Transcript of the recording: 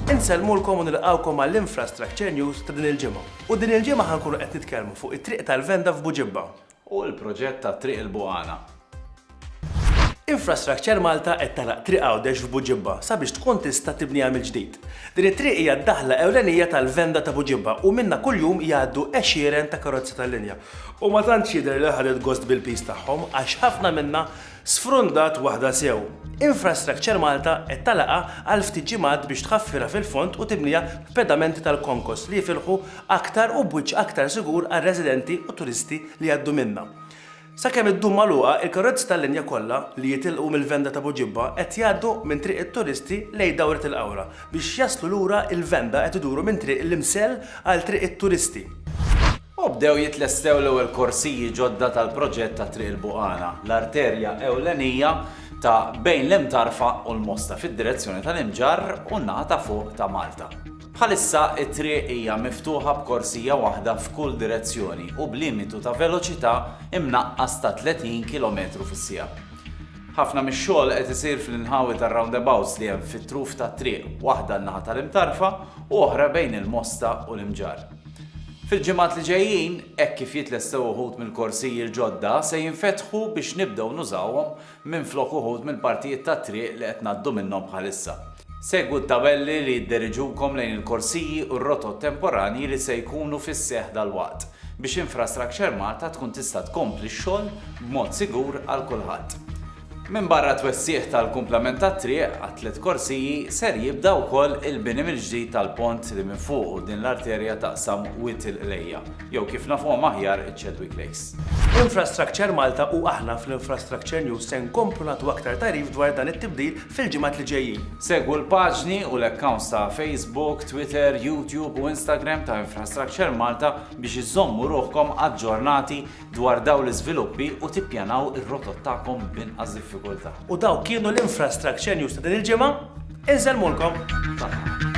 Insellmulkom u nilqgħukom għall-Infrastructure News ta' din il-ġimgħa. U din il-ġimgħa ħa nkunu qed nitkellmu fuq it-Triq tal-Venda f'Buġibba. U l-proġett ta' Triq il-Buqana. Infrastructure Malta qed tagħlaq Triq Għawdex f'Buġibba sabiex tkun tista' tibniha mill-ġdid. Din it-triq hija d-daħla ewlenija tal-Venda ta' Buġibba u minnha kuljum jgħaddu għexieren ta' karozzi tal-linja. U ma tantx jidher li ħadet gost bil-piż tagħhom għax ħafna minnha Sfrundat waħda sew. Infrastructure Malta qed tagħlaqha għal ftit ġimgħat biex tħaffirha fil-fond u tibniha b'pedamenti tal-konkos li jifilħu aktar u b'wiċċ aktar sigur għar-residenti u turisti li jgħaddu minnha. Sakemm iddum magħluqa, il-karozzi tal-linja kollha li jitilqu mill-Venda ta' Buġibba qed jgħaddu minn Triq it-Turisti lejn Dawret il-Qawra. Biex jaslu lura il-Venda qed iduru minn Triq l-Imsell għal Triq it-Turisti. U bdew jitlestew l-ewwel korsiji ġodda tal-proġett ta' Triq il-Buqana, l-arterja ewlenija ta' bejn l-Imtarfa u l-Mosta fid-direzzjoni tal-Imġarr u n-naħa ta' fuq ta' Malta. Bħalissa t-triq hija miftuħa b'korsija waħda f'kull direzzjoni u b'limitu ta' veloċità mnaqqas ta' 30 kilometru fis-siegħa. Ħafna mix-xogħol qed isir fl-inħawi tar-roundabouts li hemm fit-truf tat-triq, waħda n-naħa tal-Imtarfa u oħra bejn il-Mosta u l-Imġarr. Fil-ġimgħat li ġejjin, hekk kif jitlestew uħud mill-korsijiel ġodda, se jinfetħu biex nibdew nużawhom minflok uħud mill-partijiet tat-triq li qed ngħaddu minnhom bħalissa. Segwu t-tabelli li jidderiġukom lejn il-korsiji u r-rotot temporanji li se jkunu fis-seħħ dalwaqt biex Infrastructure Malta tkun tista' tkompli x-xogħol b'mod sigur għal kulħadd. Minbarra t-twessigħ tal-kumplament tat-triq għat-tliet korsiji, ser jibda wkoll il-bini mill-ġdid tal-pont li minn fuqu din l-arterja taqsam Wied il-Qlejja, jew kif nafuhom aħjar iċ-Chadwick Lakes. Infrastructure Malta u aħna fl-Infrastructure News se nkomplu nagħtu aktar tagħrif dwar dan it-tibdil fil-ġimgħat li ġejjin. Segwu l-paġni u l-accounts ta' Facebook, Twitter, YouTube u Instagram ta' Infrastructure Malta biex iżżommu ruħkom aġġornati dwar dawn l-iżviluppi u tippjanaw ir-rotot tagħkom b'inqas diffikultà. U dawk kienu l-Infrastructure News ta' din il-ġimgħa. Insellmulkom. Saħħa.